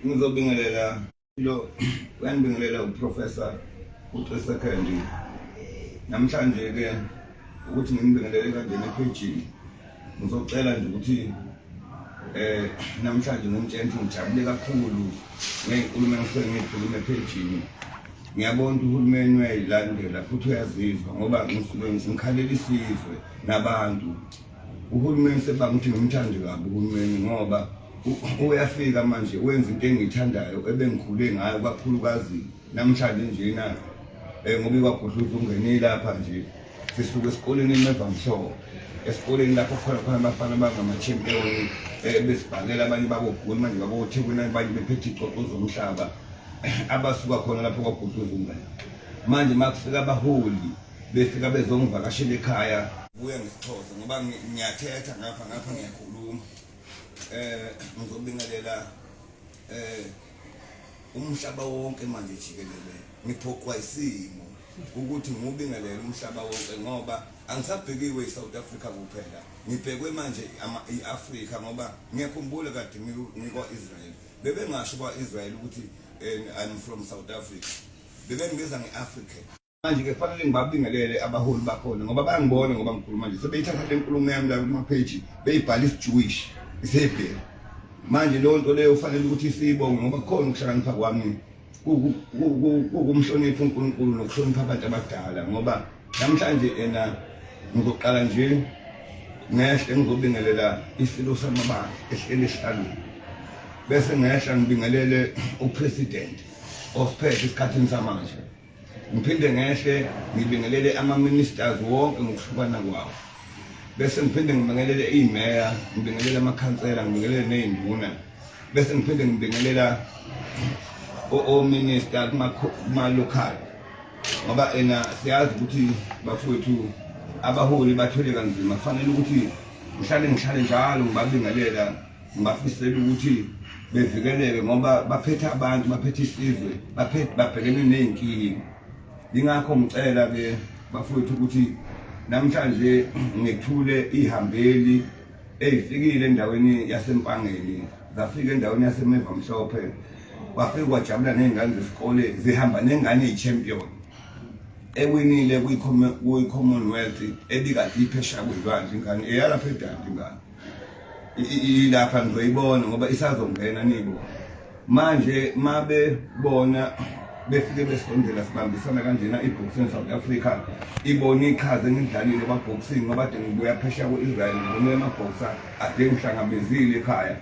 ngizobingelela lo uyandibingelela uprofessor utrisa candy namhlanje ke ukuthi ngimbingelele kanjena ephejini ngizocela nje ukuthi eh namhlanje ngimtshela ukuthi ngijabule kakhulu ngezinkulumo engisuke ngizikhuluma ephejini ngiyabona ukuthi uhulumeni uyayilandela futhi uyazizwa ngoba ngisuke ngikhalela isizwe nabantu Uhulumeni sebanga ukuthi ngimthande kabi uhulumeni ngoba uyafika manje wenza into engiyithandayo ebengikhule ngayo kakhulukazi namhlanje njena um ngoba ikwagudluza ungenile lapha nje sisuke esikoleni emevamhlobo esikoleni lapho khona khona abafana abangamachampion eh, besibhakela abanye bakogoli manje babothekwini abanye bephethe icoco zomhlaba abasuka khona lapho kwagudluza umngane manje makufika abaholi befika bezongivakashela ekhaya kuye ngisithoze ngoba ngiyathetha ngapha ngapha ngiyakhuluma eh ngizobingelela eh umhlaba wonke manje jikelele ngiphoqwa isimo ukuthi ngubingelele umhlaba wonke ngoba angisabhekiwe iSouth Africa kuphela ngibhekwe manje iAfrica ngoba ngiyakhumbula kade ngikwa Israel bebengasho kwa Israel ukuthi eh, I'm from South Africa bebengibiza ngeAfrica manje ke kufanele ngibabingelele abaholi bakhona ngoba bayangibona ngoba ngikhuluma nje sebeyithatha le nkulumo yami la kumapheji beyibhala isijewish isebhelu manje leyo nto leyo ufanele ukuthi siyibonge ngoba kukhona ukuhlakanipha kwami kukumhlonipha unkulunkulu nokuhlonipha abantu abadala ngoba namhlanje ena ngizoqala nje ngehle ngizobingelela isilo samabandla ehleli esihlalweni bese ngehla ngibingelele upresident osiphethe esikhathini samanje ngiphinde ngehle ngibingelele ama-ministers wonke ngokuhlukana kwawo bese ngiphinde ngibingelele iy'meya ngibingelele amakhansela ngibingelele ney'nduna bese ngiphinde ngibingelela ominister kuma-local ngoba ena siyazi ukuthi bafowethu abaholi bathwele kanzima kufanele ukuthi ngihlale ngihlale njalo ngibabingelela ngibafisela ukuthi bevikeleke ngoba baphethe abantu baphethe isizwe baphethe babhekene ney'nkinga yingakho ngicela-ke bafowethu ukuthi namhlanje ngethule ihambeli eyifikile endaweni yasempangeni zafika endaweni yasemeva mhlophe kwafike kwajabula ney'ngane zesikole zihamba nengane eyi-champion ewinile kwi-commonwealth ebikade iphesha kwezwandle ingane eyalapha edandi ingane ilapha ngizoyibona ngoba isazongena nibo manje mabe bona befike besondela sibambisana kanjena i-boxing south africa ibone iqhaze engidlalile kwaboxing ngoba de ngibuya phesheya ku-israel ngibone amabhoxa ade ngihlangabezile ekhaya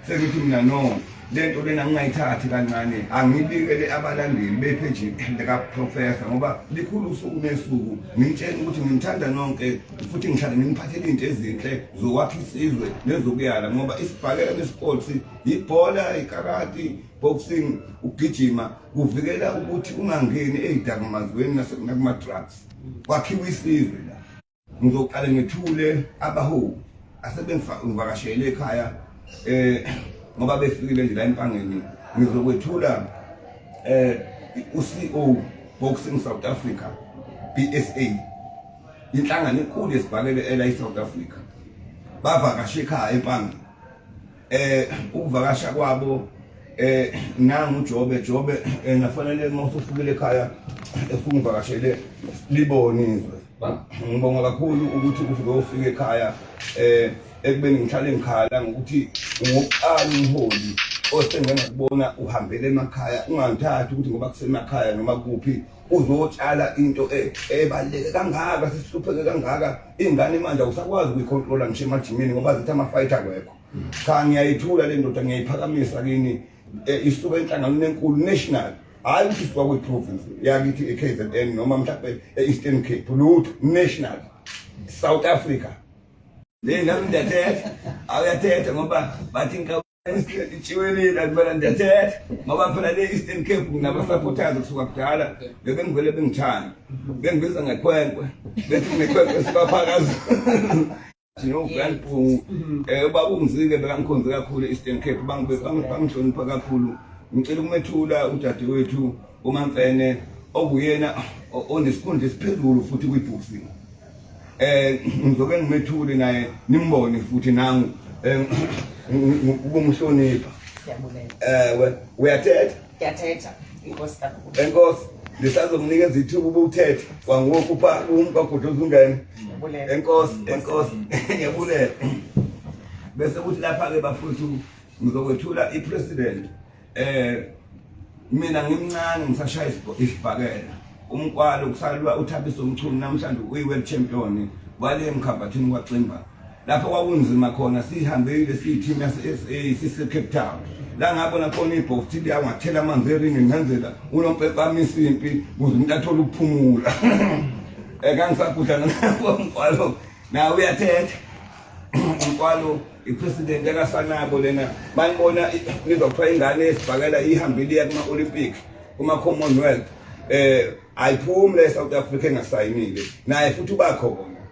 sengithi mina no le nto lena ngingayithathi kancane angibikele abalandeli bepheji likaprofesa ngoba likhulu usuku nesuku ngimtshela ukuthi ngimthanda nonke futhi ngihlale ngimphathele into ezinhle zokwakha isizwe nezokuyala ngoba isibhakela nesports yibhola ikarati boxing ukugijima kuvikela ukuthi ungangeni eyidakamazweni nakumadrugs kwakhiwa isizwe la Ngizoqale ngithule abaholi asebengivakashele ekhaya eh ngoba befikile nje la empangeni ngizokwethula eh uCEO Boxing South Africa BSA inhlangano enkulu yesibhakele ela iSouth Africa bavakashe ekhaya empangeni eh ukuvakasha kwabo eh nangu Jobe Jobe eh, nafanele uma usufukile ekhaya efuna uvakashele libonizwe Ngibonga kakhulu ukuthi uvuke ufike ekhaya eh ekubeni ngihlale ngikhala ngokuthi ngokuqala umholi osengengakubona uhambele emakhaya ungangithathi ukuthi ngoba kusemakhaya noma kuphi uzotshala into e-, ebaluleke kangaka sesihlupheke kangaka ingane manje awusakwazi ukuyikhontrola ngisho emajimini ngoba zithi ama-fight akwekho cha ngiyayithula le ndoda ngiyayiphakamisa kini eh, isuka enhlanganweni enkulu national hayi ukuthi isuka kwi-province yakithi e-k z n noma mhlawumbe e-eastern cape lutho national south africa le nami ndiyathetha awuyathetha ngoba bathi nkaitshiwelile akubana ndiyathetha ngoba phela le eastern cape nginabasapothazi kusuka kudala bebengivele bengithanda bengibiza ngekhwenkwe bethi ngekhwenkwe sibaphakazi Ngiyogwalibhungu mhm. eh ubaba umzike bekangikhonze kakhulu eStern Cape bangihlonipha kakhulu ngicela ukumethula udadewethu uMamfene okuyena onesikhundla esiphezulu futhi kwiBusi eh ngizoke ngimethule naye nimbone futhi nangu eh, ukumhlonipha siyabulela eh uyathetha Ngiyathetha inkosi kakhulu. Enkosi lisazomnikeza ithuba ubukuthetha kwangoku pha umka kude uzungene. Enkosi enkosi ngiyabulela. Bese kuthi lapha ke bafuthu ngizokwethula ipresident eh mina ngimncane ngisashaya isibhakela umkwalo kusalwa uthabisa umchunu namhlanje uyi-world champion wale emkhabhathini kwaximba lapho kwakunzima khona sihambile siyithimu yase-sa sisecape town la ngabona khona ibhokthi liyangathela amanzi eringi ngenzela unompepama isimpi kuze umuntu athole ukuphumula um kangisagudla nangabomkwalo nawe uyathetha umkwalo ipresident yakasanabo lena banibona nizwa kuthiwa ingane esibhakela ihambile iya kuma-olympic kuma-commonwealth um ayiphume le south africa engasayinile naye futhi ubakhona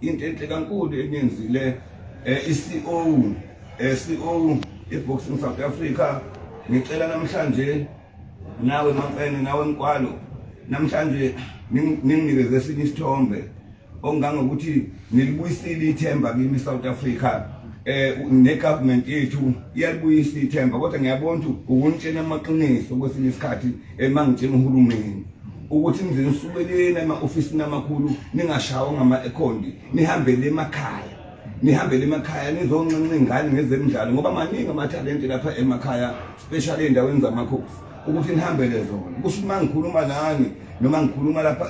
into enhle kankulu eniyenzile um i-ceo um eh, ceo i-boxing south africa ngicela namhlanje nawe mamfene nawe mkwalo namhlanje ninginikeze esinye isithombe ongangokuthi nilibuyisile ithemba kimi south africa eh negovernment yethu iyalibuyisa ithemba kodwa ngiyabona ukuthi ukunitshena amaqiniso kwesinye isikhathi emangitshena uhulumeni ukuthi nize nisuke lena ema-ofisini amakhulu ningashawa ngama-ekhondi nihambele emakhaya nihambele emakhaya nizonxenxa ingane ngezemidlalo ngoba maningi amathalente lapha emakhaya special ey'ndaweni zamakhosi ukuthi nihambele zona kusho uma ngikhuluma nani noma ngikhuluma lapha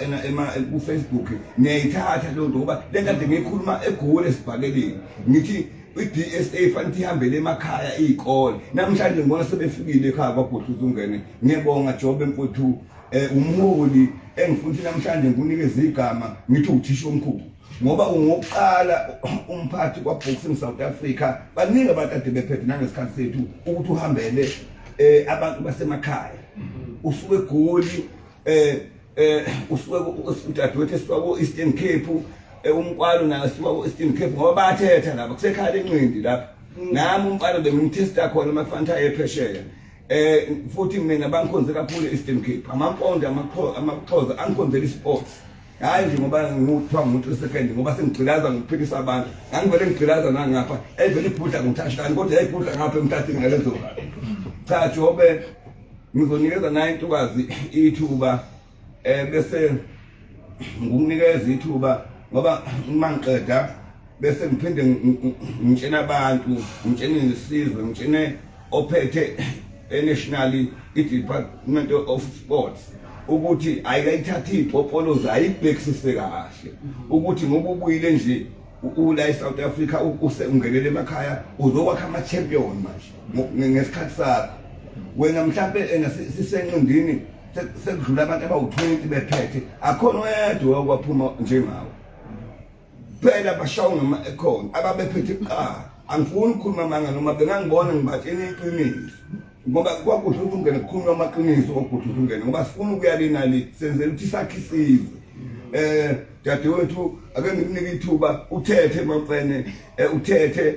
kufacebook ngiyayithatha leyo nto ngoba le kade ngiyikhuluma egoli esibhakeleni ngithi i-DSA fanele ihambele emakhaya iy'kole namhlanje ngibona sebefikile ekhaya kwabhutuza ungene ngiyabonga jobe mfuthu um eh, umholi engifuthi namhlanje ngikunikeza igama ngithi uthisha omkhulu ngoba ungokuqala umphathi kwaboxing south africa baningi abantu ade bephethe nangesikhathi sethu ukuthi uhambele um abantu basemakhaya usuke egoli eh eh usuke udadewethu esuka ku Eastern Cape eh, umkwalo naye usuka ku Eastern Cape ngoba bathetha lapha kusekhala enqindi lapha mm. nami umkwalo bengimthesta khona mafanta ephesheya eh futhi mina bangikhonze kakhulu Eastern Cape amampondo amaxhoza angikhonzela isports hayi nje ngoba ngikuthiwa ngumuntu wesekhendi ngoba sengigqilaza ngokuphilisa abantu ngangivele ngigqilaza nangapha eyivele ibhudla ngomthashikani kodwa yayibhudla ngapha emtatini ngalezo cha jobe ngizonikeza naye intokazi ithuba um bese ngikunikeza ithuba ngoba uma ngiqeda bese ngiphinde ngitshena abantu ngitshene nesizwe ngitshene ophethe enationally i-department of sports ukuthi ayikayithathe iy'popolozi ayibhekisise kahle ukuthi ngoba ubuyile nje ula e-south africa usengenele emakhaya uzokwakha ama-champion manje ngesikhathi sakho wena mhlampe ena sisenqindini sekudlula abantu abawu-20 bephethe akhona oyedwa okwaphuma njengawo phela bashawu noma ekhona ababephethe kuqala angifuni ukukhuluma amanga noma bengangibona ngibatshela iqiniso ngoba kwagudla ukuthi ungene kukhulunywa amaqiniso kwagudla ukuthi ungene ngoba sifuna ukuya le nali senzela ukuthi sakhe isizwe eh dadewethu ake ngikunike ithuba uthethe maqene eh, uthethe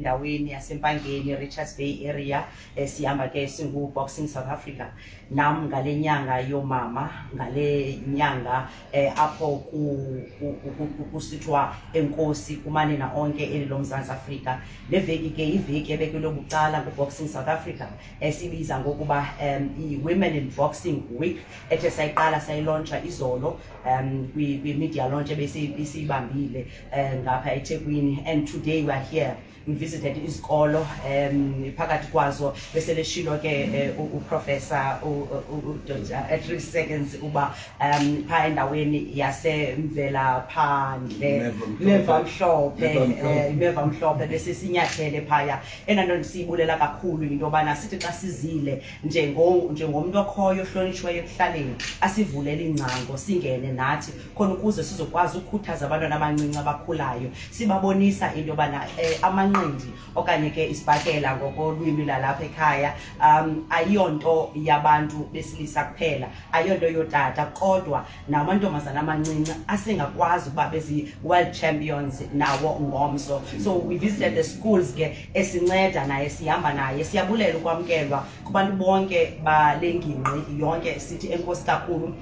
endaweni yasempangeni richards bay area eh, sihamba ke singu-boxing south africa nam ngale nyanga yoomama ngale nyanga eh, apho kusithiwa enkosi kumanina onke eli lomzantsi afrika le veki ke iveki ebekelwe bucala nguboxing south africa esibiza eh, ngokuba um i-women in boxing week ethe sayiqala sayilontsha izolo um kwi-media launch ebesiyibambile eh, ngapha eThekwini and today we are here we visited izikolo um phakathi kwazo bese leshilo ke eh, uprofessor at three seconds uba um phaa endaweni yasemvela phandle imeva mhlophe eh, imeva mhlophe bese sinyathele phaya enanto ndisiyibulela kakhulu yinto yobana sithi xa sizile njengomntu okhoyo ohlonitshiweyo ekuhlaleni asivulele iingcango singene nathi khona ukuze sizokwazi ukukhuthaza abantwana abancinci abakhulayo sibabonisa into yobana eh, amanqindi okanye ke isibhakela ngokolwimi lalapha ekhaya um ayiyonto yabantu besilisa kuphela ayiyonto yotata kodwa namantombazana amancinci asingakwazi ukuba bezi-world champions nawo ngomso so we visited the schools ke esinceda naye sihamba naye siyabulela ukwamkelwa kubantu bonke bale ngingqi yonke sithi enkosi kakhulu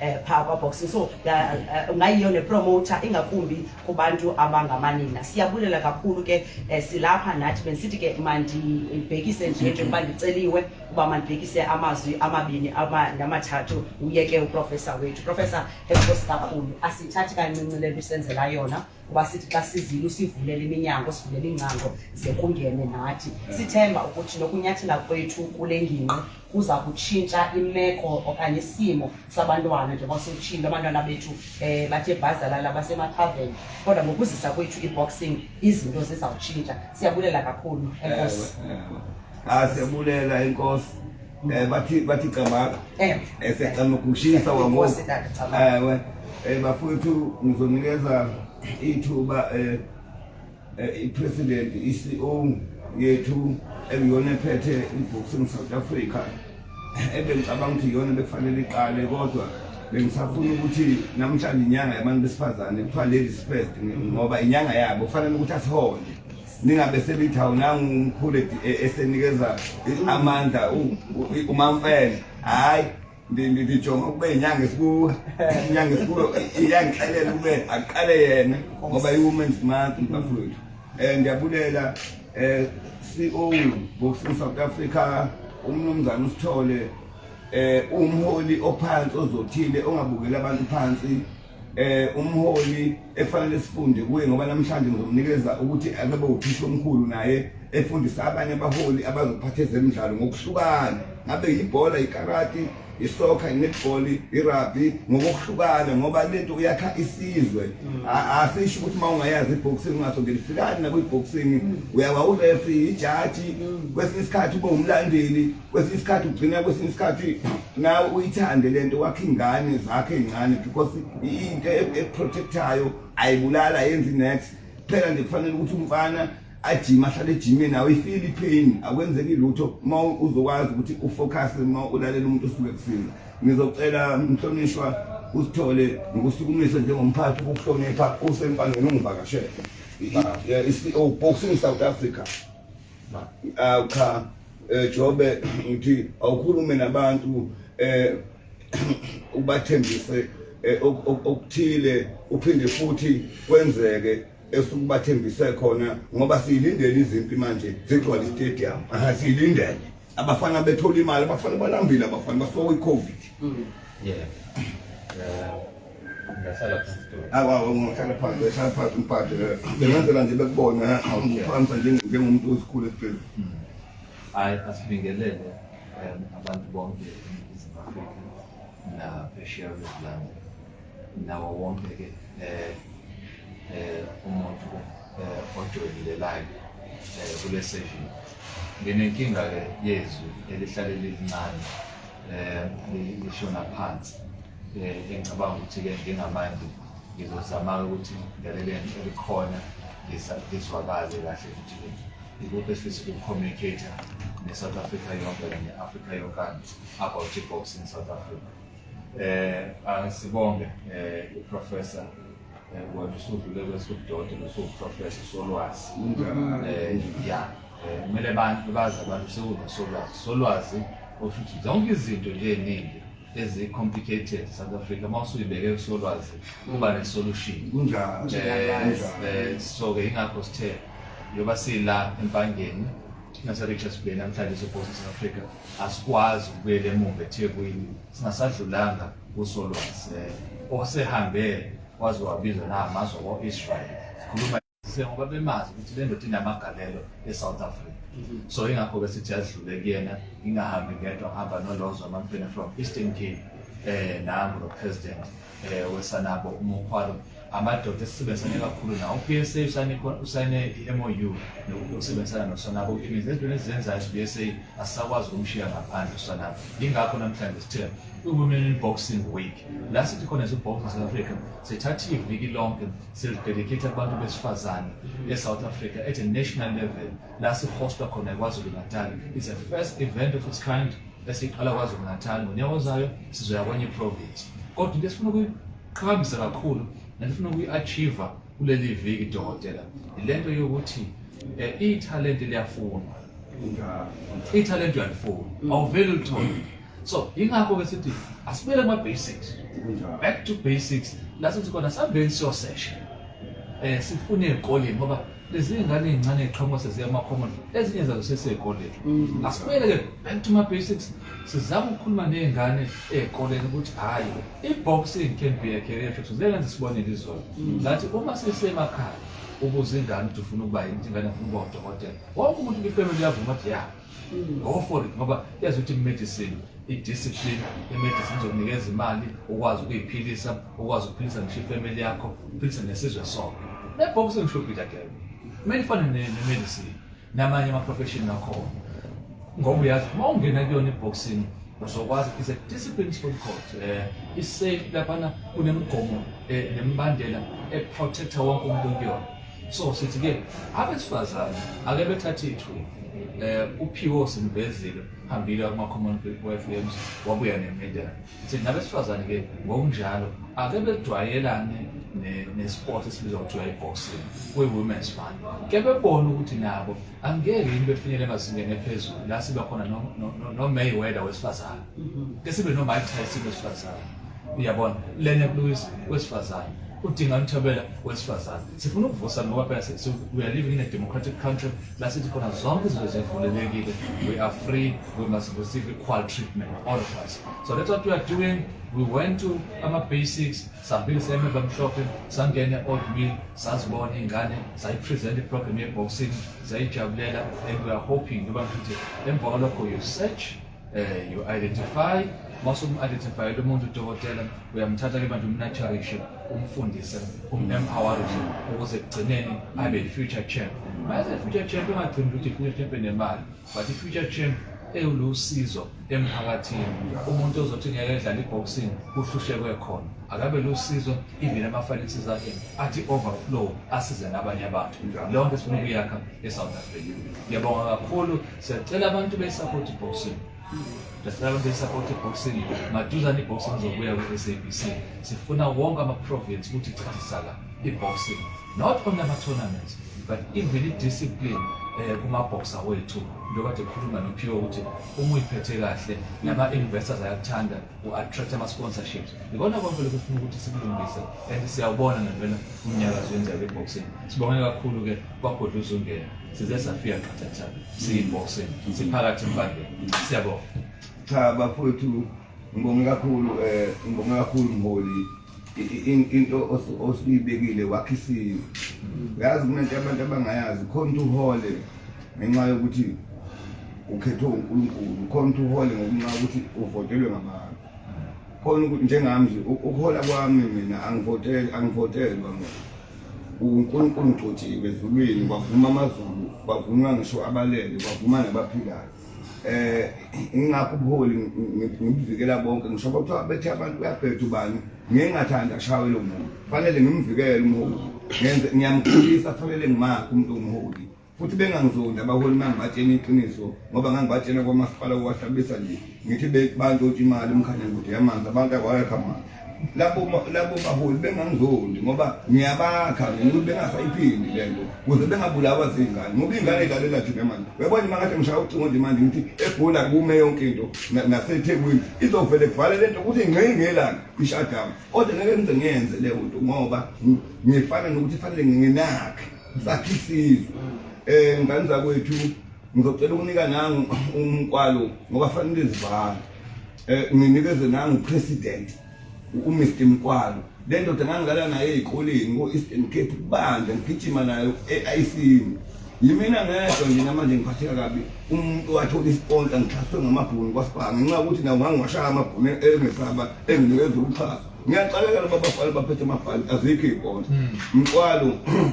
eh phaa kwaboxing so ya- eh, ungayiyo nepromota ingakumbi kubantu abangamanina siyabulela kakhulu ke eh, silapha nathi bendisithi ke mandibhekise nje njengoba ndiceliwe uba mandibhekise amazwi amabini ama- namathathu uyeke uprofesa wethu profesa enkosi kakhulu asithathi kancinci le nto usenzela yona kuba sithi xa sizile usivulela iminyango sivulela iingcango ze kungene nathi sithemba ukuthi nokunyathela kwethu kule ngingqi kuza kutshintsha imeko okanye isimo sabantwana njengoba siwutshilo abantwana bethu um bathe bhazalala basemathaveni kodwa ngokuzisa kwethu i-boxing izinto zizawutshintsha siyabulela kakhulu enkosi asiyabulela inkosi Eh bathi bathi camaka. Eh. Esecama ukushisa wango. Eh we. Eh bafowethu ngizonikeza ithuba eh, eh ipresident iCEO yethu ekuyona ephethe iboxing South Africa. Ebengicabanga ukuthi iyona bekufanele iqale kodwa bengisafuna ukuthi namhlanje inyanga yabantu besifazane kuthiwa ladies first ngoba inyanga yabo kufanele ukuthi asihole ningabe selithi awunanga umkhulu e, esenikeza amandla umamfene hhayi ndijonga ukube inyanga esikuwe inyanga esikuwe iyangixelela ukube aqale yena ngoba i-women's month bafowethu um ndiyabulela um c o boxing south africa umnumzane usithole um umholi ophansi ozothile ongabukeli abantu phansi eh umholi efanele sifunde kuye ngoba namhlanje ngizomnikeza ukuthi akabe uthisha omkhulu naye efundisa abanye abaholi abazophatha ezemidlalo ngokuhlukana ngabe yibhola ikarati isoccer inetball irugby ngokuhlukana ngoba lento uyakha isizwe mm. asisho ukuthi uma ungayazi iboxing ungaso ngelifikani nakuyiboxing mm. uyawa ureferee ijaji mm. kwesinye isikhathi ube umlandeli kwesinye isikhathi ugcina kwesinye isikhathi nawe uyithande le nto wakhe ingane zakhe ey'ncane because into e-, eprotectayo ayibulala yenzi next kuphela nje kufanele ukuthi umfana ajima ahlale ejimeni awuyifili ipain akwenzeki lutho uma uzokwazi ukuthi ufocus uma ulalela umuntu osuke kusiza ngizocela mhlonishwa usithole ngikusukumise njengomphathi ukuhlonipha usempanweni ungivakashele i-ceo boxing south africa cha eh, jobe ngithi awukhulume nabantu eh ubathembise eh, okuthile uphinde futhi kwenzeke esukubathembise khona ngoba siyilindele izimpi manje zigcwala istadium aha siyilindele abafana bethola imali abafana balambile abafana basoka icovid mm. yeah yeah Ngiyahlala phansi Dolly. Awa ungahlala phansi uhlala phansi umphathe eh. bengenzela nje bekubona ngiphamisa njengomuntu osikhulu esiphezulu Hayi asibingelele em, abantu bonke eNingizimu Afrika naphesheya kwezilanga nawo wonke ke eh eh umuntu eh ojoyinelelayo eh kule session. Nginenkinga ke yezwi elihlale lilincane eh li- lishona phansi. Eh, engicabanga ukuthi-ke ngingamanje ngizozama-ke ukuthi ngilalele nje elikhona ngizwakale kahle ukuthi ikuphi esifisa ukucommunicate ne-south africa yonke kanye africa yonkana about i-boxing south africa um asibonge um eh, uprofessor eh, wena usudlule kwesikudodo nosuwuprofessor solwazi um ya kumele abantu bazi abantu sekunosolwazi solwazi osho ukuthi zonke izinto nje eningi ezi complicated South Africa mawusuyibeke kusolwazi kuba ne solution kunjalo eh, so ke ingakho sithe yoba sila empangeni nase Richards Bay namhlanje sopost South Africa asikwazi ukubuyela emuva eThekwini singasadlulanga kusolwazi eh, osehambe waze wabizwa namazo ko-Israel sikhuluma sengoba bemazi ukuthi le ndoda inamagalelo e-south africa mhm. so ingakho-ke sithi adlule kuyena ngingahambi ngedwa ngihamba nolozo amamfene from eastern cape eh nangu lo president eh wesanabo umukhwalo amadoda esisebenzisane kakhulu nawo uPSA usane usane iMOU nokusebenzisana nosanabo imizi ezintweni ezenzayo uPSA asisakwazi ukumshiya ngaphandle usanabo ingakho namhlanje sithe uwomen in boxing week la sithi khona nje boxing South Africa sithatha iviki lonke Siyadedicate abantu besifazane e-South Africa at a national level la sihosta khona eKwaZulu Natal. It's the first event of its kind esiqala KwaZulu Natal ngonyaka ozayo sizoya kwenye province. Kodwa into esifuna ukuyiqhakambisa kakhulu nalifuna ukuyi-achieve kuleli viki dokotela ilento yokuthi eh, ithalente liyafunwa ithalente uyalifuna awuvele ulithole so yingakho ke sithi asibele kuma basics back to basics la sithi khona sambeni siyo session eh sifune ezikoleni ngoba lezi ngane ezincane eziqhamuka seziya kuma common ezinye zazo sesezikoleni mm. asibele ke back to my basics sizama ukukhuluma nezingane ezikoleni ukuthi hayi iboxing can be a career choice lenze sibone lizona mm. ngathi uma sisemakhaya ubuza ingane ukuthi ufuna ukuba yini ingane ufuna ukuba udokotela wonke umuntu kwifamily yavuma ukuthi ya go for it ngoba yazi ukuthi medicine i-discipline i-medicine izokunikeza imali ukwazi ukuyiphilisa ukwazi ukuphilisa ngisho ifamily yakho uphilise nesizwe sonke nebhoksi ngisho ubhida kebe kumele ifane ne-medicine namanye ama-profession nakhona ngoba uyazi uma ungena kuyona i-boxing uzokwazi is a discipline sport court um eh, isafe laphana kunemigomo um nemibandela eprotecta wonke umuntu kuyona so sithi ke abesifazane ake bethathe ithuba eh uphiwo simvezile hambile kuma common people FMs wabuya nemedal sithi nabesifazane ke ngokunjalo ake bedwayelane nesport esibizwa kuthiwa iboxing kwi-women's month ke bebona ukuthi nabo angeke yini befinyele emazingeni ephezulu la sibe khona nomayweather wesifazane mhm. ke sibe nomike tyson wesifazane uyabona lena kuluwisa wesifazane udinga umthobela wesifazane sifuna ukuvusa ngoba phela we are living in a democratic country la sithi khona zonke izinto zivulelekile we are free we must receive equal treatment all of us so that's what we are doing we went to ama-basics sambili semeva mhlophe sangene old mill sazibona iy'ngane sayipresent iprogram ye-boxing zayijabulela and we are hoping ngoba ngithi emva kwalokho you search eh you identify mase um-identify lo muntu udokotela uyamthatha ke manje umnaturishe umfundise um-empowerishe ukuze ekugcineni abe i-future champ mayeze i-future champ ungagcini ukuthi i-future champ enemali but i-future champ ewulusizo emphakathini umuntu ozothi ngeke edlala i-boxing kuhlushekwe khona akabe lusizo even ama-finances akhe athi overflow asize nabanye abantu leyo nto sifuna ukuyakha e-south africa ngiyabonga kakhulu Siyacela abantu besapoti boxing Dasala besapoti boxing maduzane iboxing izobuya kwi-SABC sifuna wonke ama-province ukuthi chazisala i-boxing not only ama-tournaments but even i-discipline eh kumabhoxa wethu njengoba ekhuluma nophiwe ukuthi uma uyiphethe kahle nama-investors ayakuthanda u-attract ama-sponsorships yikona konke lokhu funa ukuthi sikulungise and siyawubona ngempela umnyakazo wenzeka kwi-boxing sibonge kakhulu-ke kwagodla uzungena size safika qathatha siyi-boxing siphakathi embangeni siyabonga cha bafowethu ngibonge kakhulu um ngibonge kakhulu mholi into osuyibekile wakhe isizwe uyazi kunento abantu abangayazi khona ukuthi uhole ngenxa yokuthi ukhethwe unkulunkulu khona ukuthi uhole ngokunxa ukuthi uvotelwe ngabantu khona ukuthi njengami nje ukuhola kwami mina angivotelwa mina unkulunkulu ngigcotshiwe ezulwini kwavuma amazulu kwavuma ngisho abalele kwavuma nabaphilayo eh ingakho ubuholi ngimvikela bonke ngisho kuthiwa bethe abantu kuyabheda ubani ngeke ngathanda ashawe lo muntu fanele ngimvikele umholi ngenze ngiyamkhulisa fanele ngimakhe umuntu umholi futhi bengangizondi abaholi mangibatshena iqiniso ngoba ngangibatshena kwamasipala kuwahlabisa nje ngithi bantu imali umkhanya kude yamanzi abantu akwayekho amanzi labo labo baholi bengangizondi ngoba ngiyabakha ngokuthi bengasayiphindi le nto kuze bengabulawa zingane ngoba ingane idlalela thina manje uyabona uma ngathi ngishaya ucingo nje manje ngithi egula kume yonke into nasethekwini izovele kuvale le nto ukuthi ngqi ngelanga ishadamu kodwa ngeke ngize ngiyenze leyo nto ngoba ngifana nokuthi fanele nginakhe sakhe isizwe um ngane zakwethu ngizocela ukunika nangu umkwalo ngoba fanele zivale eh nginikeze nangu president uMr Mkwalo le ndoda ngangidlala naye ezikoleni ngo-eastern cape kubanda ngigijima nayo e-ayisini yimina ngedwa nje namanje ngiphatheka kabi umuntu wathola isiponsa ngixhaswe ngamabhuni kwasibanga ngenxa yokuthi nawo ngangiwashaya amabhuni engesaba enginikeza ukuxhasa ngiyaqalekela babafana baphethe amabhali azikho iy'ponsa mkwalo hmm.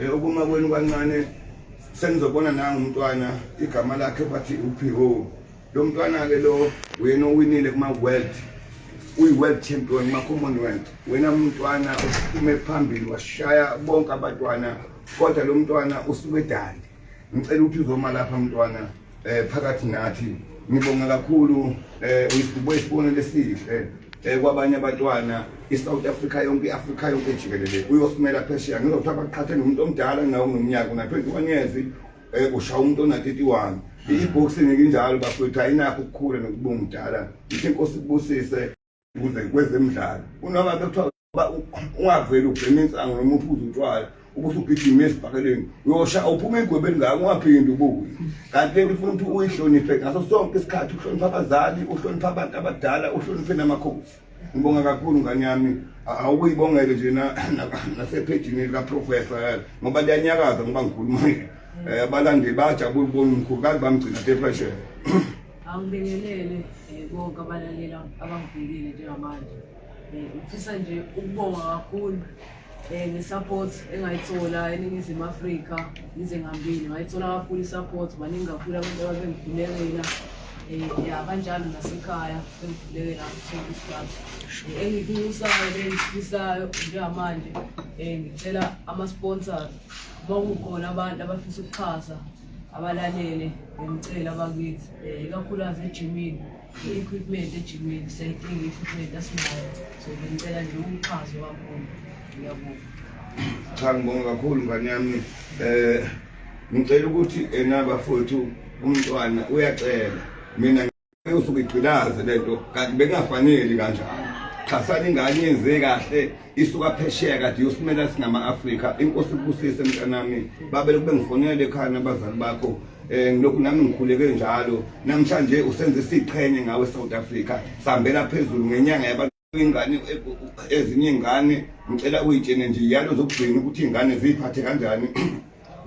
Eh, ukuma kwenu kancane senizobona nanga umntwana igama lakhe bathi upho lo mntwana-ke lo wena owinile kuma-world uyi-world champion kuma-commonwealth wena mntwana usukume phambili washaya bonke abatwana kodwa lo mntwana usuke edali ngicela ukuthi uzoma lapha mntwana eh phakathi nathi ngibonga kakhulu eh uyibuye isibonelo esihle eh kwabanye abantwana iSouth Africa yonke iAfrica yonke jikelele uyosimela phesheya ngizothiwa baqhathe nomuntu omdala nawo nomnyaka una 21 years eh usha umuntu ona 31 iboxing nginjalo bafethu ayinakho ukukhula nokubunga umdala ithi inkosi kubusise kuze kwezemidlalo unoma bekuthiwa ungaveli ubhema insango noma uphuze utshwala ukuthi ugijima esibhakeleni uyosha uphuma igwebeni ngako ungaphindi ubuye kanti lento ufuna ukuthi uyihloniphe ngaso sonke isikhathi uhloniphe abazali uhloniphe abantu abadala uhloniphe namakhosi ngibonga kakhulu ngane yami awukuyibongele nje nasephejini likaprofesa eh, ngoba liyanyakaza ngoba ngikhuluma um eh, abalandeli bayajabula ubona umkhulu kazi bamgcina tefashele angibingelele eh, konke abalaleli abangibhekile njengamanje Eh, ngifisa nje ukubonga kakhulu um nge-support engayithola eningizimu afrika ngize ngambili ngayithola kakhulu i-support baningi kakhulu abantu ababengikhulekela um ya kanjalo nasekhaya bengikhulekela kusona isikhathi eh, engikusayo engifisayo njengamanje um ngicela ama-sponsor uma kukhona abantu abafisa ukuxhasa abalalele ngimcela abakithi um ikakhulukazi ejimini I-equipment ejimini siyayidinga i-equipment asinayo so bengicela nje umxhaso kakhulu ngiyabonga cha ngibonga kakhulu ngane yami eh ngicela ukuthi enabafowethu umntwana uyacela mina usuke igcilaze lento kanti bengafaneli kanjalo xhasani ingane yenze kahle isuka phesheya kade yosimela singama-afrika inkosi kubusise mntanami babele kube ngifonele ekhaya nabazali bakho um eh, ngilokhu nami ngikhuleke njalo namhlanje usenze isiqhenye ngawe south africa sihambela phezulu ngenyanga yabantu ingane ezinye ingane ngicela uyitshene nje yalo zokugcina ukuthi iy'ngane ziyiphathe kanjani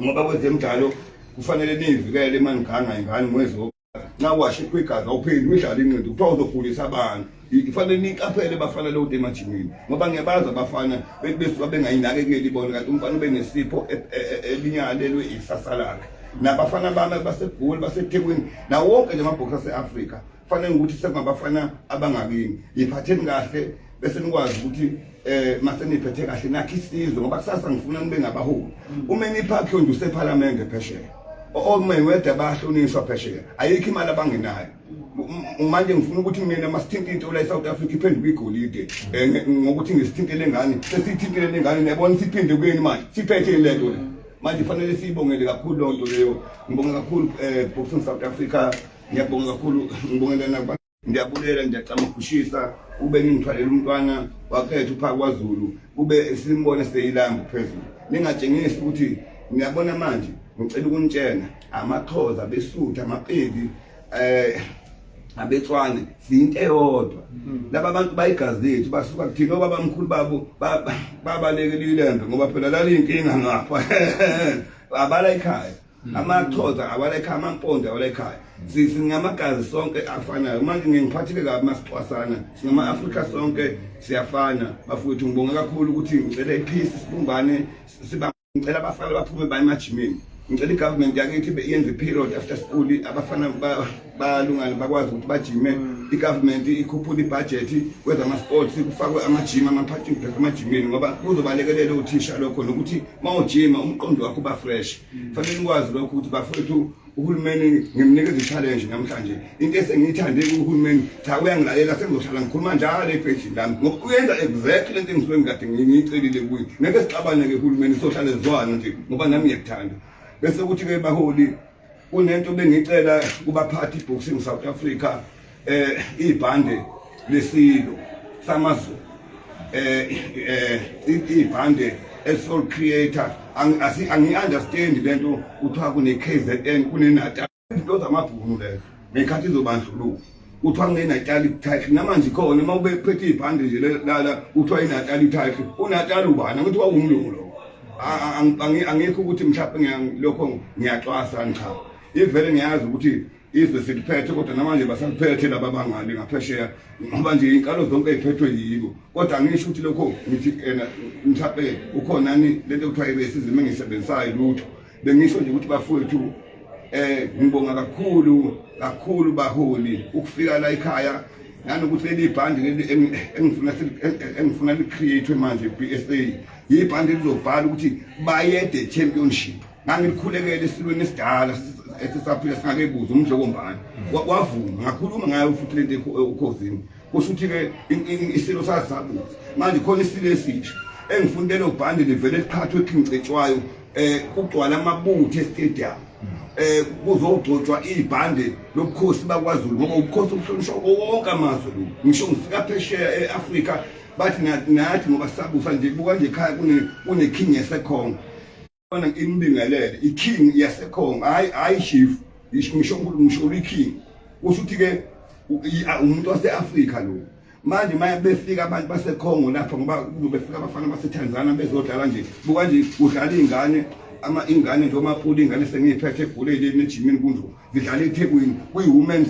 ngoba kwezemidlalo kufanele niyivikele uma niganga ingane mwezo nxa washe kwegazi awupheli uyidlala inqindi kuthiwa uzogulisa abantu ifanele niqaphele bafana leyo nto emajimini ngoba ngiyabazi abafana besuka bengayinakekeli bona kanti umfana ube nesipho e, e, e, elinyalelwe isasa lakhe nabafana bami basegoli basethekwini nawo wonke nje amabhokisi ase-afrika kufanele ukuthi sekungabafana abangakini yiphatheni kahle bese nikwazi ukuthi eh mase niphethe kahle nakhe isizwe ngoba kusasa ngifuna nibe ngabaholi uma niphakhe nje usephalamende phesheya okumele weda bahlonishwa phesheya ayikho imali abangenayo manje ngifuna ukuthi mina masithinte into la eSouth Africa iphenduke igolide eh, ngokuthi ngisithintele ngani sesithintele ngani nebona siphinde kuyini manje siphethe lento le manje fanele siyibongele kakhulu lonto leyo ngibonga kakhulu eh Boxing South Africa ngiyabonga kakhulu ngibongela nakuba Ngiyabulela ngiyacama ukushisa ube ngithwalela umntwana wakhetha upha kwaZulu ube simbone seyilanga phezulu ningatshengisi ukuthi ngiyabona manje ngicela ukunitshena amaxhoza besutha amapedi eh abetswane siyinto eyodwa laba bantu bayigazi lethu basuka kuthina obaba mkhulu babo babalekele ilembe ngoba phela lali inkinga ngapha abala ikhaya Mm. amaxhoza awalekhaya amampondo awalekhaya singamagazi sonke afanayo manje ngengiphathile kabi masixhwasana singama-afrika sonke siyafana bafowethu ngibonge kakhulu ukuthi ngicele iphisi sibumbane ngicela abafana baphume baye emajimini ngicela i-government yakithi yenze i-period after school abafana bayalungana bakwazi ukuthi bajime mm. i-government ikhuphule ibhajethi kwezama-sports kufakwe amajima ama-parking pack emajimini ngoba kuzobalekelela uthisha lokho nokuthi uma ujima umqondo wakho uba fresh mm. fanele nikwazi lokho ukuthi bafowethu uhulumeni ngimnikeza i-challenge namhlanje into esengiyithande kuhulumeni cha uyangilalela sengizohlala ngikhuluma njalo ebhejini lami ngoba uyenza exactly le nto engisuke ngikade ngiyicelile kuye ngeke sixabane-ke uhulumeni sohlale zwana nje ngoba nami ngiyakuthanda bese kuthi-ke baholi kunento bengicela kubaphathi boxing South Africa eh ibhande lesilo samazulu eh eh ibhande esol creator angi understand lento kuthiwa kune KZN kune Natal into zamabhunu lezo ngekhathi izobandluluka kuthiwa nginenatali title namanje khona uma ubephethe ibhande nje lala kuthiwa inatali title unatali ubani angithi wawumlungu lo angikho ukuthi mhlawumbe lokho ngiyacwasa ngicha ivele ngiyazi ukuthi izwe siliphethe kodwa namanje basaliphethe laba bangale ngaphesheya ngoba nje inkalo zonke ey'phethwe yibo kodwa angisho ukuthi lokho ngithi ena mhlawumbe ukhonani lento kuthiwa ibesizima engiyisebenzisayo lutho bengisho nje ukuthi bafowethu eh ngibonga kakhulu kakhulu baholi ukufika la ekhaya nanokuthi leli bhandi engifuna engifuna licreate manje BSA yibhandi elizobhala ukuthi bayede championship ngangikhulekele esilweni esidala esisaphila singakebuzwa umdlokombani wavuma ngakhuluma ngayo futhi lento ekhosini kusho ukuthi-ke isilo sazakuthi manje khona isilo esisha engifuna lelo bhande livele liqhathwe ekhincetshwayo um eh, kugcwala amabutho estadium eh kuzogcotshwa ibhande lobukhosi bakwaZulu ngoba ubukhosi obuhlonishwa wonke amazwe lo ngisho ngifika phesheya eAfrika bathi nathi ngoba sabusa nje buka nje ekhaya kune kune king yasekhongo Fana inibingelele iking yasekhongo hayi hayi chief ngisho ngisho ngisho uliking kusho ukuthi ke umuntu waseAfrika lo manje maye befika abantu basekhongo lapha ngoba befika abafana baseTanzania bezodlala nje buka nje udlala ingane ama ingane nje omapula ingane sengiyiphethe egulele emejimini kunje zidlala eThekwini kuyi women's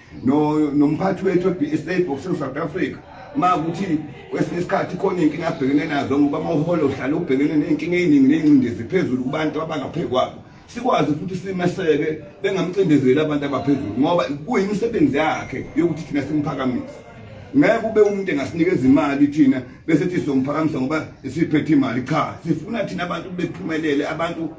no nomphathi wethu eBSA Boxing South Africa makuthi kwesinye isikhathi khona inkinga abhekene nazo ngoba amaholo uhlala ubhekene nenkinga eziningi nengcindezi phezulu kubantu abangaphekwabo sikwazi futhi simeseke bengamcindezeli abantu abaphezulu ngoba kuyimisebenzi yakhe yokuthi thina simphakamise ngeke ube umuntu engasinikeza imali thina bese thi somphakamisa ngoba siphethe imali cha sifuna thina abantu bephumelele abantu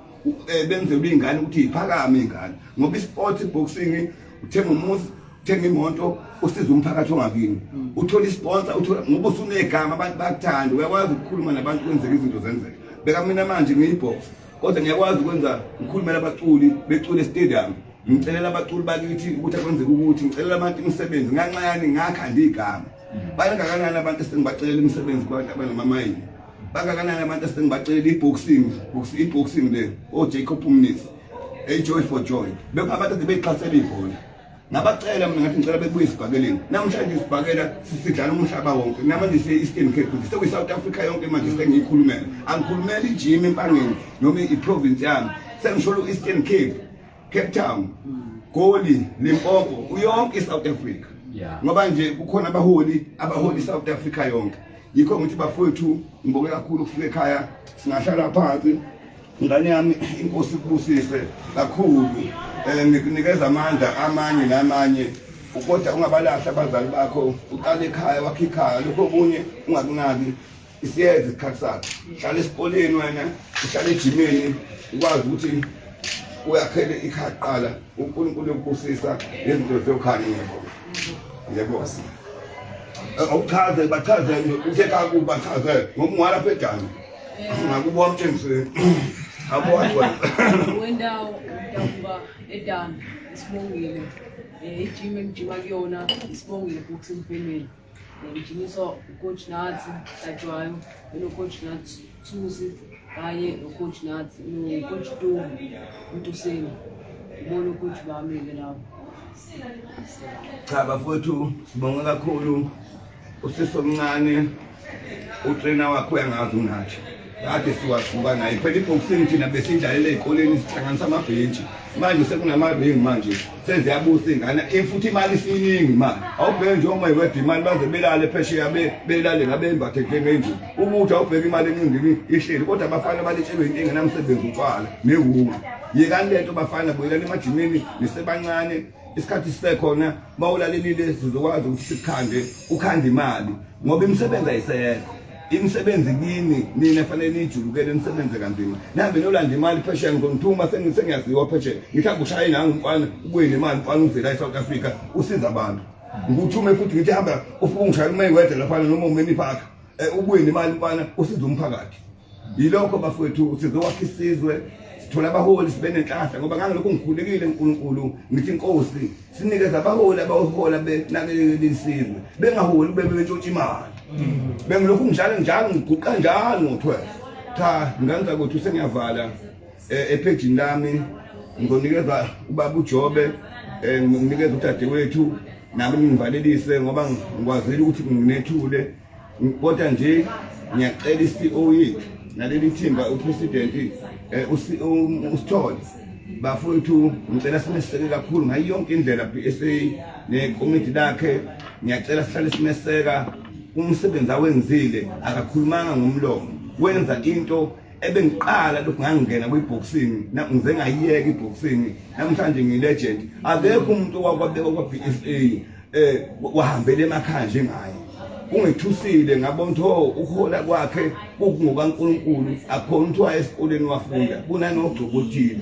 eh, benzelwe ingane ukuthi iphakame ingane ngoba isport boxing uthenga umuzi uthenga imoto usiza umphakathi ongakini mm. uthola isponsor uthola ngoba usunegama abantu bakuthanda uyakwazi ukukhuluma nabantu kwenzeka izinto zenzeka beka mina manje ngiyibhox kodwa ngiyakwazi ukwenza ngikhulumela abaculi becule stadium ngicelela abaculi bakithi ukuthi akwenzeka ukuthi ngicelela abantu imisebenzi nganxayani ngakha ndigama mm. bayangakanani abantu esengibacelela imisebenzi kwabantu abanamamayini bangakanani abantu esengibacelela i-boxing i-boxing le ojacob mnisi hey joy for joy bekungakade beyixhasela ibhola ngabacela mina ngathi ngicela bebuye esibhakeleni namhlanje isibhakela sidlala umhlaba wonke namanje siye-eastern cape kuthi sekuyi-south africa yonke manje sengiyikhulumela angikhulumela ijimi empangeni noma iprovince yami sengisholo u-eastern cape cape town goli limpopo uyonke i-south africa ngoba nje kukhona abaholi abaholi i-south africa yonke yikho ngithi bafowethu ngibonge kakhulu ukufika ekhaya singahlala phansi Ngane yami inkosi kubusise kakhulu eh ngikunikeza amandla amanye namanye kodwa ungabalahla abazali bakho uqale ekhaya wakhe ikhaya lokho okunye ungakunaki isiyeza isikhathi sakhe hlala esikoleni wena uhlala ejimini ukwazi ukuthi uyakhele ikhaya kuqala uNkulunkulu yokubusisa nezinto zokhani yebo yebo awuchaze bachaze uthe kakuba chaze ngomwala phedana Nakuba wamtshengiseni. Abo wathi wena. Wendawo udakuba edan isibongile. Eh ijim engijima kuyona isibongile books and family. Eh, Ngijinyiswa ucoach Nathi Hlatshwayo, unocoach Nathi Thusi kanye nocoach Nathi nocoach Tu Ntuseni. Ngibona ucoach bami ke lapho. Cha bafowethu sibonga kakhulu usisi omncane utrena wakho uyangazi unathi kade siwasuka naye phela ibhoksini thina besidlalela ey'koleni sihlanganisa amabhentshi manje sekunamaringi manje seziyabusa ingane in futhi imali isiningi imali awubheke nje uma iwebha imali baze belale phesheya belale ngabembathe njengenje ubuthi awubheke imali encingini ihleli kodwa abafana balitshelwe into engenamsebenzi utshwala newunga yekani le nto bafana buyelani emajimini nisebancane isikhathi sisekhona bawulalelile sizokwazi ukuthi sikhande ukhande imali ngoba imisebenzi ayisekho imisebenzi kini nina fanele niyijulukele nisebenze kanzima nihambe nolanda imali phesheya ngizonithuma sengiyaziwa phesheya ngithi akushaye nangu mfana ubuye nemali mfana uvela e-south africa usiza abantu ngikuthume futhi ngithi hamba ufike ungishayela umayewede laphana noma umeni park um eh, ubuye nemali mfana usiza umphakathi yilokho bafowethu sizowakha isizwe sithola abaholi sibe nenhlahla ngoba ngangelokhu ngikhulekile uNkulunkulu ngithi inkosi sinikeza abaholi abahola benakelele isizwe bengaholi kube bentshontsha imali bengilokhu ngijalo njalo ngiguqa njalo ngothwe cha nganza ukuthi sengiyavala eh, ephejini lami ngizonikeza ubaba uJobe eh, nginikeza udadewethu nami ngivalelise ngoba ngikwazile ukuthi nginethule kodwa nje ngiyacela i-CEO yethu naleli thimba upresident eh, um, usithole bafowethu ngicela simeseke kakhulu ngayo yonke indlela BSA nekomiti lakhe ngiyacela sihlale simeseka umsebenzi awenzile akakhulumanga ngomlomo wenza into ebengiqala lokhu ngangingena kwi-boxing ngize ngayiyeka i-boxing namhlanje ngiyi-legend akekho umuntu owakwabekwa kwa-b s a eh wahambele emakhaya njengaye ungethusile ngabona ukuthi oh, ukuhola kwakhe kungokaNkulunkulu akhona ukuthi waye esikoleni wafunda kunanogcobotile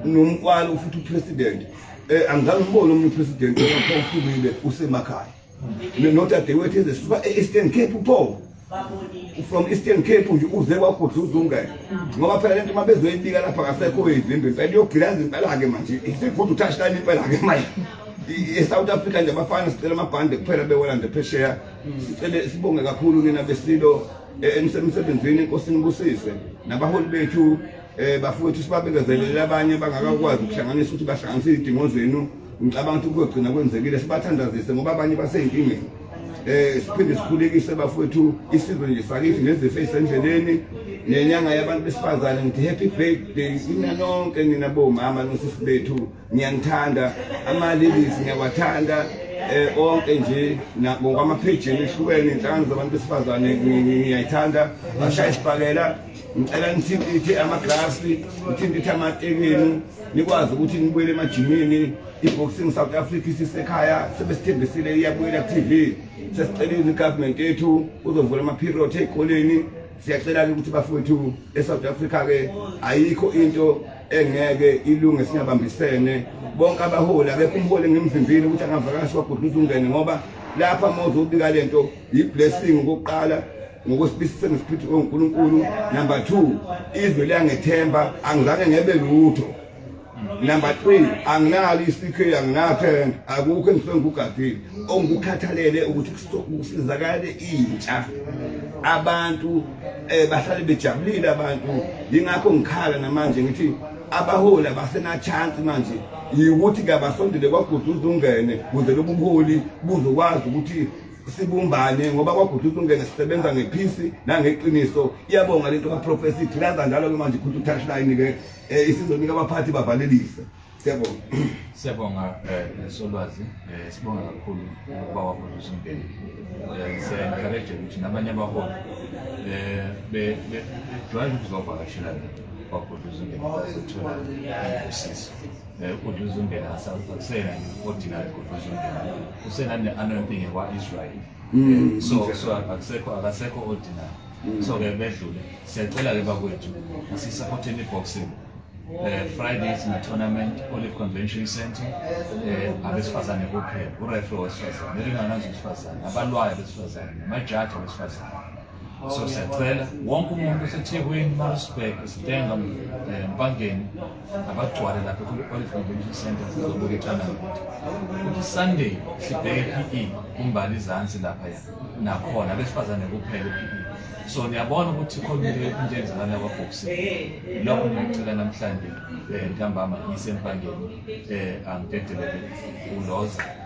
nomkwalo futhi upresident eh angizange ngibone omunye upresident ophumile usemakhaya nodadewethu ezisuka e-Eastern Cape upho from eastern cape nje uze kwagudluza ungene ngoba phela lento uma bezoyibika lapha kasekho izimbi impela iyogilaza impela-ke manje isigudu touchline impela-ke manje e-south africa nje abafana sicela amabhande kuphela bewela nje phesheya sicele sibonge kakhulu nina besilo e, emsebenzini inkosi nibusise nabaholi bethu um bafowethu sibabekezelele abanye bangakakwazi ukuhlanganisa ukuthi bahlanganise izidingo zenu ngicabanga ukuthi kuyogcina kwenzekile sibathandazise ngoba abanye baseyinkingeni eh siphinde sikhulekise bafowethu isizwe nje sakithi nezifo ezisendleleni nenyanga yabantu besifazane ngithi happy birthday nina nonke nina bomama nosisi bethu ngiyanithanda amalilisi ngiyawathanda eh onke nje ngokwamaphejini ehlukene inhlangano zabantu besifazane ngiyayithanda bashaya isibhakela ngicela nithintithe amaglasi nithintithe amatekeni nikwazi ukuthi nibuyele emajimini i-boxing south africa isisekhaya sebesithembisile iyabuyela ku-tv sesicelile igovernment yethu uzovula amaperiod ey'koleni siyacela-ke ukuthi bafowethu e-south africa-ke ayikho into engeke ilunge singabambisene bonke abaholi akekho umholi engimvimbile ukuthi angavakashi wagudluza ungene ngoba lapha mozobika le nto yi-blessing kokuqala ngokusibisise ngesiphithu oNkulunkulu number 2 izwe liyangethemba angizange ngebe lutho number 3 anginalo isikhe anginathen akukho engisengikugadile ongikukhathalele ukuthi kusizakale intsha abantu eh bahlale bejabulile abantu ingakho ngikhala namanje ngithi abaholi abasena chance manje ukuthi kabasondele kwagudu uzungene kuze lobuholi buzokwazi ukuthi sibumbane ngoba kwaGudu Tungene sisebenza ngephisi nangeqiniso iyabonga lento kaProphecy thilaza njalo ke manje Gudu Touchline ke eh, isizonika abaphathi bavalelise siyabonga siyabonga eh, solwazi eh, sibonga kakhulu ukuba waProphecy Mbheni siya encourage ukuthi nabanye abaholi eh be drive ukuzovakashela kwaGudu Tungene bazothola usizo Kodwa uzombela asakusena ordinary kodwa uzombela. Usena ne anointing kwa Israel. Mm, so so akusekho akasekho ordinary. Mm. So ke bedlule. Siyacela ke bakwethu asisupporte ni boxing. Eh Friday is na tournament Olive Convention Center. Eh abesifazane kuphela. Ureferee wesifazane. Nilingana nje isifazane. Abalwayo besifazane. Amajaji besifazane. so siyacela wonke umuntu osethekwini marisburg sitenga eh, mpangeni abagcwale lapha kwi-olive convention center sizobuka ithanda ukuthi sunday sibheke p e kumbali izansi lapha ya nakhona abesifazane kuphela p e so niyabona ukuthi khona into into enzakala kwabhoksi lokho ngiyacela namhlanje um ntambama isempangeni um angidedelele uloza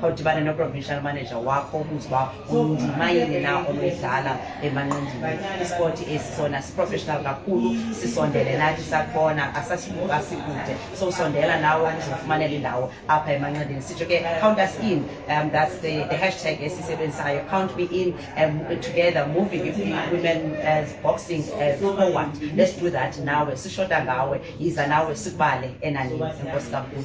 khawudibane no-provincial manager wakho ubuze uba undima yini na onoyidlala emanqindini isport esi sona siprofessional kakhulu sisondele nathi sakubona asasikude so usondela nawe uzofumanela indawo apha emanqindini sitsho ke count us in um, that's the, the hashtag esisebenzisayo count me in um, together moving if women as uh, boxing as uh, forward let's do that nawe sishota ngawe yiza nawe sikubale enanini enkosi kakhulu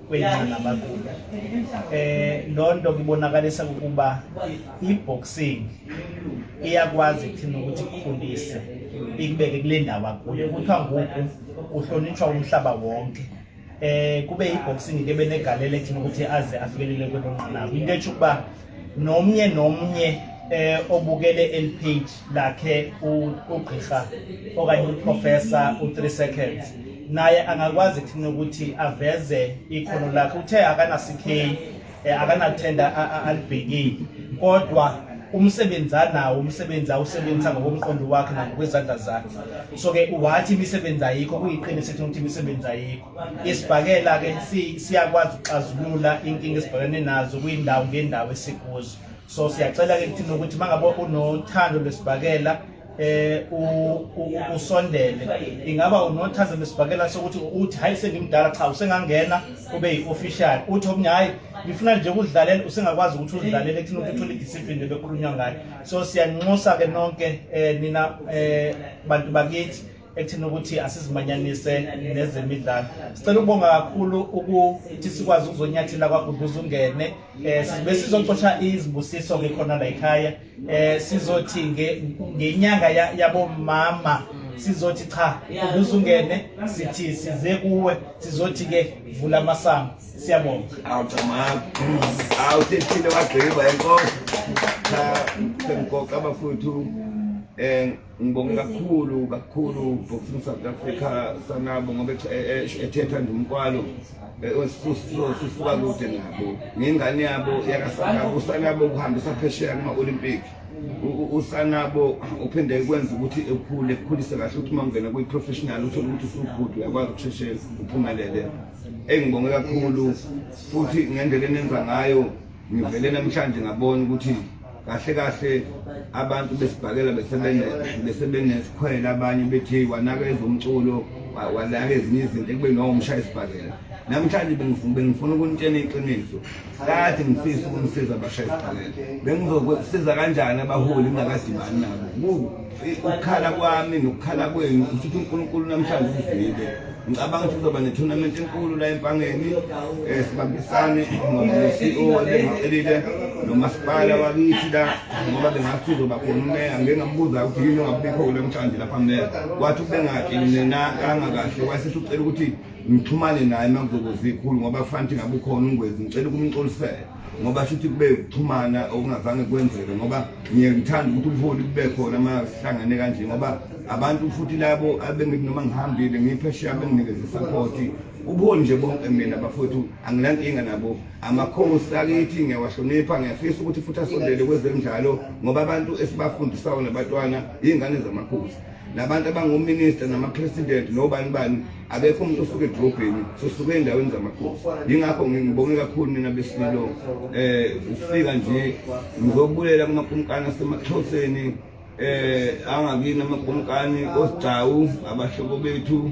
kweyana bakula eh lonto kubonakalisa ukuba iboxing iyakwazi kuthina ukuthi kukhulise ikubeke kule ndawo akuyo kuthiwa ngoku uhlonitshwa umhlaba wonke eh kube iboxing ke benegalelo ekuthina ukuthi aze afikelele kwelo nqanaba into etsho ukuba nomnye nomnye eh obukele el page lakhe ugqirha okanye uprofessor u3 seconds naye angakwazi kuthina ukuthi aveze ikhono lakhe uthe akanasikheyi eh, akanathenda alibhekile kodwa umsebenzi anawo umsebenzi awusebenzisa ngokomqondo wakhe nangokwezandla zakhe so-ke wathi imisebenzi ayikho kuyiqiniso ukuthi imisebenzi ayikho isibhakela ke siyakwazi ukuxazulula inkinga esibhekene nazo kuyindawo ngendawo esikuzo so siyacela ke kuthina ukuthi mangabe unothando lwesibhakela eh usondele ingaba unothando lwesibhakela sokuthi uthi hayi sengimdala cha usengangena ube yi-official uthi omunye hayi ngifuna nje ukudlalela usengakwazi ukuthi uzidlalele kuthina ukuthi uthole idiscipline bekukhulunywa ngayo so siyanxusa ke nonke eh nina eh bantu bakithi ekuthini ukuthi asizimanyanise nezemidlalo sicela ukubonga kakhulu ukuthi sikwazi ukuzonyathela kwaguduza ungene um besizocosha izibusiso-ke khona la ekhaya um sizothi ngenyanga yabomama sizothi cha guduza ungene sithi size kuwe sizothi-ke vula amasango siyabonga awuthethile wagqiba enkosi cha sengigoqa abafuthu um Ngibonge kakhulu kakhulu Boxing South Africa sanabo ngoba ethetha nje umkwalo osusuka kude nabo ngengane yabo yakasanabo usanabo ukuhambisa phesheya kuma-olympic usanabo uphinde kwenza ukuthi ekhule ekhulise kahle ukuthi uma ungena kwi-professional uthole ukuthi usubhudu uyakwazi ukusheshe uphumelele engibonge kakhulu futhi ngendlela enenza ngayo ngivele namhlanje ngabona ukuthi kahle kahle abantu besibhakela besebenesikhwele abanye bethi wanakeza umculo walaka ezinye izinto ekubeni wawumshaya isibhakela namhlanje bengifuna ukunitshena iqiniso kade ngifisa ukunisiza abashaya isibhakela bengizosiza kanjani abaholi ngingakadibani nabo ukukhala kwami nokukhala kwenu usuthi uNkulunkulu namhlanje uzibe ngicabanga ukuthi kuzoba ne-tournament enkulu la empangeni um sibambisane ngoba-CEO ebengicelile nomasipala wakithi la ngoba bengathi uzoba khona umeya ngike ngambuza ukuthi yini ongabikho kule mhlanje lapha meya wathi ubengaki nenakanga kahle wayesithi ucela ukuthi ngixhumane naye uma kuzokuzikhulu ngoba kufanele ukuthi ngabe ukhona ungwezi ngicela ukumxolisela ngoba shuthi kube ukuxhumana okungazange kwenzeke ngoba ngiye ngithanda ukuthi ubuholi kube khona uma sihlangane kanje ngoba abantu futhi labo abengithi noma ngihambile ngiphesheya benginikeza isapoti ubuholi nje bonke mina bafowethu anginankinga nabo amakhosi akithi ngiyawahlonipha ngiyafisa ukuthi futhi asondele kwezemidlalo ngoba abantu esibafundisayo nabatwana iy'ngane zamakhosi nabantu abangominister namapresident nobani bani akekho umuntu osuke edrobheni sosuke ey'ndaweni zamakhosi yingakho ngibonge kakhulu nina besililo um eh, ukufika nje ngizokubuyela kumakumkani asemaxhoseni um eh, angakini amakumkani osigcawu abahlobo bethu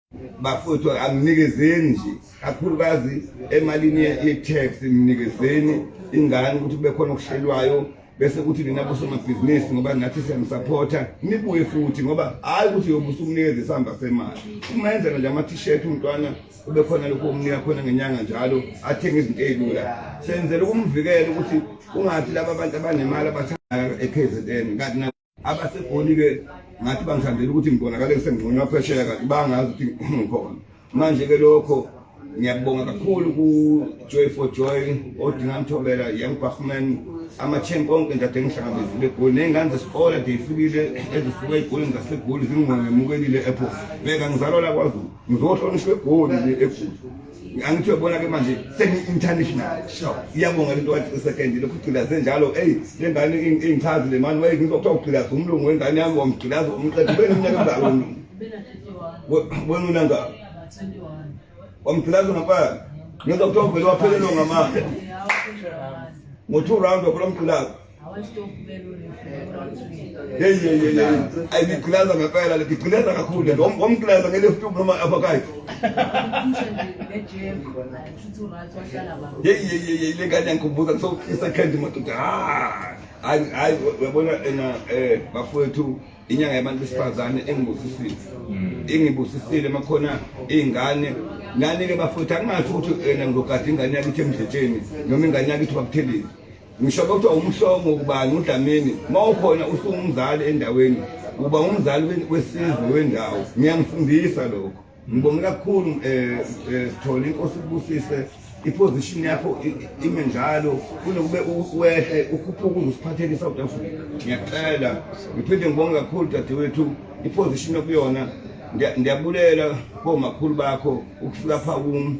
bafowethu anginikezeni nje kakhulukazi emalini ye-tax nginikezeni ingane ukuthi kube khona okuhlelwayo bese kuthi nina bosomabhizinisi ngoba nathi siyamusaphotha nibuye futhi ngoba hhayi ukuthi yobusa umnikeza isihamba semali uma enzela nje ama-t-shirt umntwana kube khona lokhu omnika khona ngenyanga njalo athenge izinto ey'lula senzela ukumvikela ukuthi ungathi laba bantu abanemali abathanda e-k z n kanti abasegoli ke ngathi bangithandela ukuthi ngibonakale ngisengcono aphesheya kanti bangazi ukuthi ngikhona manje ke lokho ngiyabonga kakhulu ku Joy for Joy odinga mthobela young Bachman ama chain konke nje ade ngihlangabezile egoli nezingane zesikole ade ifikile ezisuka egolini zasegoli zingongemukelile ephos beka ngizalwa la kwaZulu ngizohlonishwa egoli le egoli angithi uyabona ke manje seni-international sure iyabonga lento wathi second lokhu ugqilaze njalo eyi le ngane ingichazi le mani waye ngizwa kuthiwa ugqilaze umlungu wengane yami wamgqilaza umqeda ube neminyaka emngaka umlungu wena unangaka wamgqilaza ngapala ngizwa kuthiwa uvele waphelelwa ngamandla ngo-two round wakhula umgqilaza Hey, hey, hey, hey. Ay, ngikhulaza ngempela le ngikhulaza kakhulu le ngomkhulaza ngele futhi noma apha kayi. Hey, hey, hey, hey, le ngane yangikhumbuza so second madoda. Ah. Hayi, hayi uyabona ena eh bafowethu inyanga yabantu besifazane engibusisile. Hmm. Ingibusisile makhona izingane nani ke bafowethu angathi ukuthi ena ngizogada ingane yakithi emdletsheni noma ingane yakithi bakuthelile. ngisho kodwa umhlongo ubani udlamini uma ukhona usungumzali endaweni uba umzali wesizwe wendawo ngiyangifundisa lokho ngibonge kakhulu um sithole inkosi kubusise iposition yakho ime njalo kunokube uwehle ukhuphuke uziphathele i-south africa ngiyacela ngiphinde ngibonge kakhulu dadewethu iposition okuyona ndiyabulela komakhulu bakho ukufika pha kum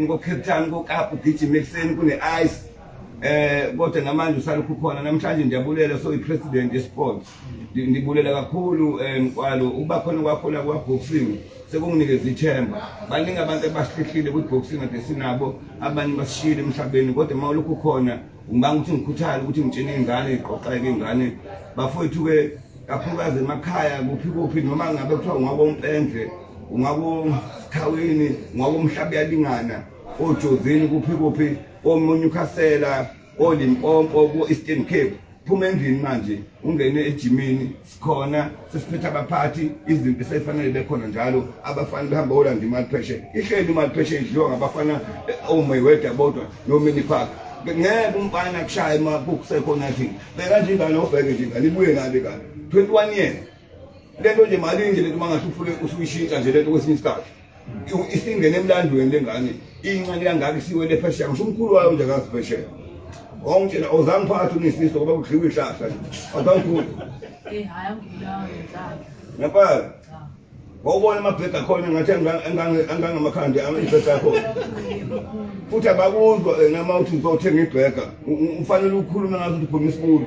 ngocape town kokapa ugijima ekuseni kune-ice eh kodwa namanje usalokhu khona namhlanje ndiyabulela so i-president ye-sports ndibulela kakhulu eh, mkwalo ukuba khona kwakhona kwa-boxing sekunginikeza ithemba baningi abantu abasihlile kwi-boxing ade sinabo abanye basishiyile emhlabeni kodwa uma ulokhu khona Ngibanga ukuthi ngikhuthale ukuthi ngitshene ingane iqoqeke ingane bafowethu ke kakhulukazi emakhaya kuphi kuphi noma ngabe kuthiwa ungakompendle ungakosikhaweni ungakomhlaba uyalingana ojozini kuphi kuphi omunye ukhasela olimpompo ku-eastern cape phuma endlini manje ungene ejimini khona sesiphetha abaphathi izinto esefanele bekhona njalo abafana behamba olanda imali pheshe ihleli imali pheshe idliwa ngabafana eh, omayweather oh bodwa nomini park ngeke umfana kushaya uma kukusekhona thi beka nje ingane obheke nje ingane ibuye ngabe kabi 21 years lento nje mali nje lento mangathi ufune usuyishintsha nje lento kwesinye isikhathi isingene emlandweni lengane incane kangaka isiwele phesheya ngisho umkhulu wayo nje akazi phesheya wangitshela ozange phathi unisiso ngoba kudliwa ihlahla azangikhulu eh, ngempela wawubona amabhega akhona ngathi angangamakhandi ibhega akhona futhi abakuzwa eh, nama uthi ngizothenga ibhega ufanele ukhulume ngazo ukuthi uphuma isibulo